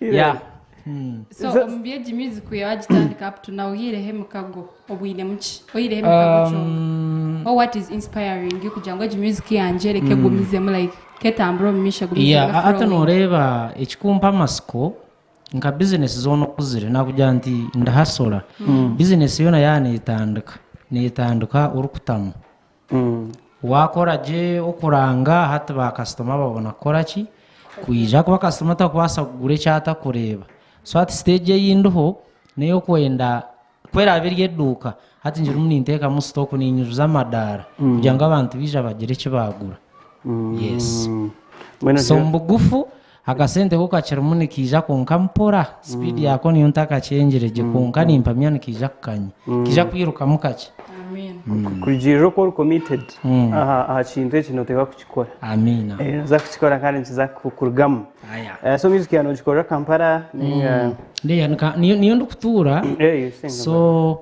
Yeah. Mm. So Nze- omu byegi music kuya wagitandika up to now oyireho emikago obwinemu ki oyireho emikago kyonka Um, or what is inspiring you kugira ngu egi music yangye reka egumizemu like ketambure omu maisho egumize yeah, ebe a- ate flowing. nooreeba ekikumpa amasiko nka bizinesi zoona okuzire nakugira nti ndahasora bizinesi yoona yaa neetandika neetandika orikutamu Waakora gye okuranga, hati baakasitoma babona kukora ki? Kwija. Ahakuba kasitoma tarikubaasa kugura eki atarikureeba. So hati siteegi ei ndiho n'ey'okwenda, ku eraabe eri eduuka, hati ngirimu ninteekamu sitooku, niinyujuza amadaara kugira ngu abantu baija bagire eki baagura. Yes. So omu bugufu. Akasente ku kakirimu nikaija konka mpora, sipiidi yaako niyo ntakakyengire gye kwonka nimpamya nikaija kukanya. Nikaija kwirukamu kakye. Kurugiirira oku ori committed aha kintu eki nooteeka kukikora. Amiina. Nooza kukikora kandi nikiza kukurugamu. So music yaawe noogikorera Kampala ninga? Niyo ndikutuura. So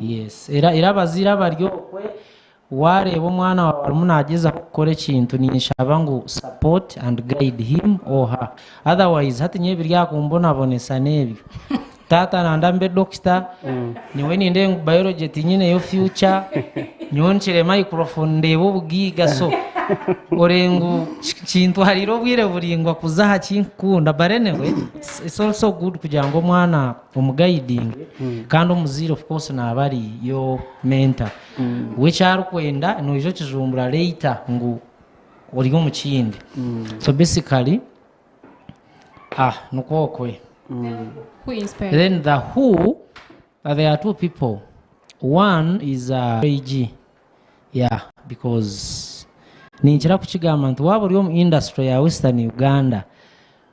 Yes. Era, era abazaire abari okwe, waareeba omwana waawe arimu naagyezaho kukora ekintu, ninshaba ngu support and guide him or her. Otherwise, hati nyowe ebiri aha kumbonabonesa n'ebyo. Taata nanda mbe dokita, nyowe nindeeba ngu biology tinyineyo future, nyowe nkire microphone ndeebe obugaiga. So, ore ngu ki- kintwariire obwire buraingwa kuza aha ki nkukunda. But anyway, it's, it's also good kugira ngu omwana omu guiding kandi omuzaire of course naaba ari your mentor we eki arikwenda noija okijumbura later ngu ori omu kindi so basically ah nikwo okwe Who inspired? then the who uh, there are two people one is uh, AG yeah because ninkira kukigamba nti waaba ori omu industry ya western uganda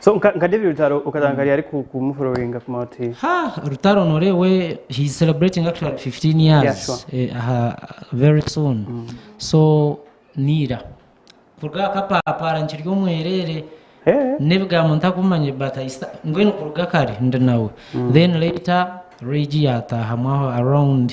So nka nka David Rutaro okaza nka ari ku ku mu following kuma oti ha rutaro norewe he is celebrating actually 15 years Yeah, sure. eh, aha very soon so niira kuruga aha kapapaara nkiri omwerere eh n'ebigambo ntakumanye but I sta- mbwenu kuruga kare ndi nawe then later regi yataahamu aho around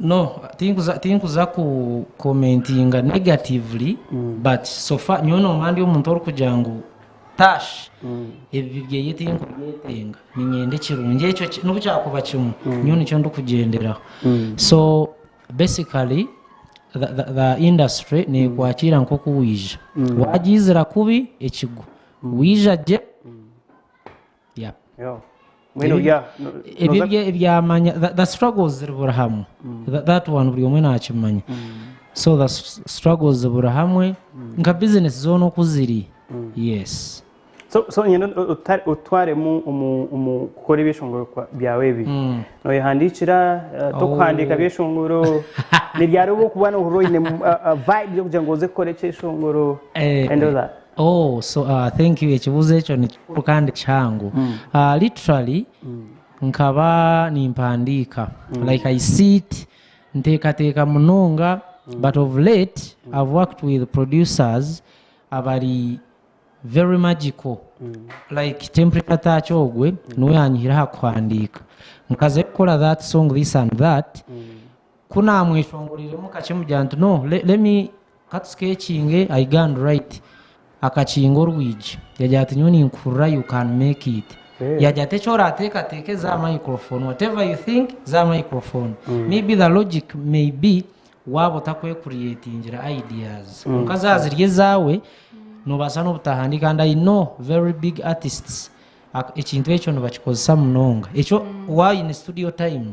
No tinkuza tinkuza ku commentinga negatively but so far nyowe nomba ndi omuntu orikugira ngu tash ebibi byeye tinkubyetenga ninyenda ekirungi ekyo ki- nobu kyakuba kimwe nyowe nikyo ndikugyenderaho so basically the, the, the industry nekwakiira nkoku wija wagyizira kubi ekigwo wija gye Yeah. Yo. Mbwenu Ebi- bya- no- ebyo noza- bye- byamanya the, the struggles ziri buri hamwe Tha- that one buri omwe nakimanya so the s- struggles ziri buri hamwe nka business zoona oku ziri yes so so nyine uta- utwaremu omu- omu kukora ebyeshongoro kwa- byawe ebi noyehandiikira eh, tokuhandiika byeshongoro nibyari obu okuba nohurira oine mu- a- a vibe y'okugira ngu oze kukora ekyeshongoro Eh, and all that Ooh so thank you ekibuzo ekyo nikikuru kandi kihango literally nkaba nimpandiika like i sit nteekateeka munonga but of late i've worked with producers abari very magical like temperature touch ogwe niwe yanyihire aha kuhandiika nkaze kukora that song this and that Ku naamweshongoriiremu kakye mugira nti, No, let me, ka tuskeekinge, I go and write. Akakinga orwigi. Yagira ati, Nyowe ninkuhurira you can make it. Yagira ati, Eki oraateekateeke za microphone, whatever you think, za microphone. Maybe the logic may be waaba otakwekuriyeetingire ideas. Kwonka zaaba ziri ezaawe, noobaasa n'obutahandiika. And I know very big artists, ekintu ekyo nibakikozesa munonga. Ekyo waaba oine studio time.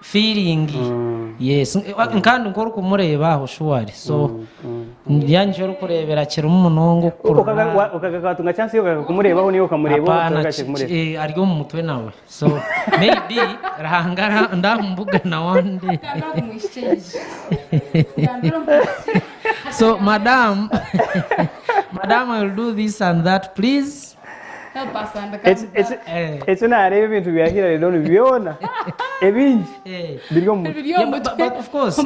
feeling yes kandi nka orikumureeba aho surely so ningira nikyo orikureebera kirimu munonga okukurura okagaruka watunga chance yokugaruka kumureebaho niwe okamureeba obu apana otaragaruka kumureeba ki- eh, ari omu mutwe nawe so maybe ruhanga ara- ndamubugana one day so madam madam i will do this and that please Eki naareeba ebintu bya Hillary Don byona ebingi biri omu mutwe. Biri omu mutwe.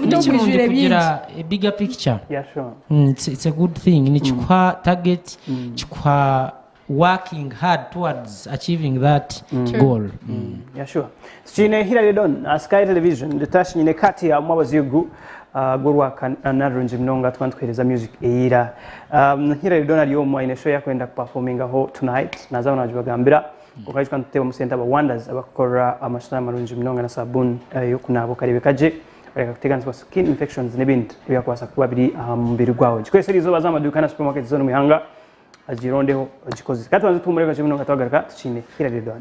Ni kirungi kugira bigger picture. Yeah, sure. Mm, it's, it's a good thing nikikuha target kikuha working hard towards achieving that goal Mm. Yeah, sure. Tikiine hira Redon na Sky Television Ritash nyine Kati amu abazigu ah, gw'orwakana rurungi munonga tukaba nituheereza music eira Um, Hira Redon ari omu aine show yakwenda kuperformingaho tonight naza aho nagibagambira kwonka tukaba nitutebamu sente aba Wonders abakukorera amashushani marungi munonga na sabuuni eh, y'okunaaba okareebeka gye oreka kuteganisibwa skin infections n'ebindi ebyakubaasa kuba biri aha mubiri gwawe gikoresa eri izooba za amaduuka na supermarket zoona omu ihanga agirondeho ogikozese katubanze tuhumure kakye munonga twagaruka tukiine Hira Redon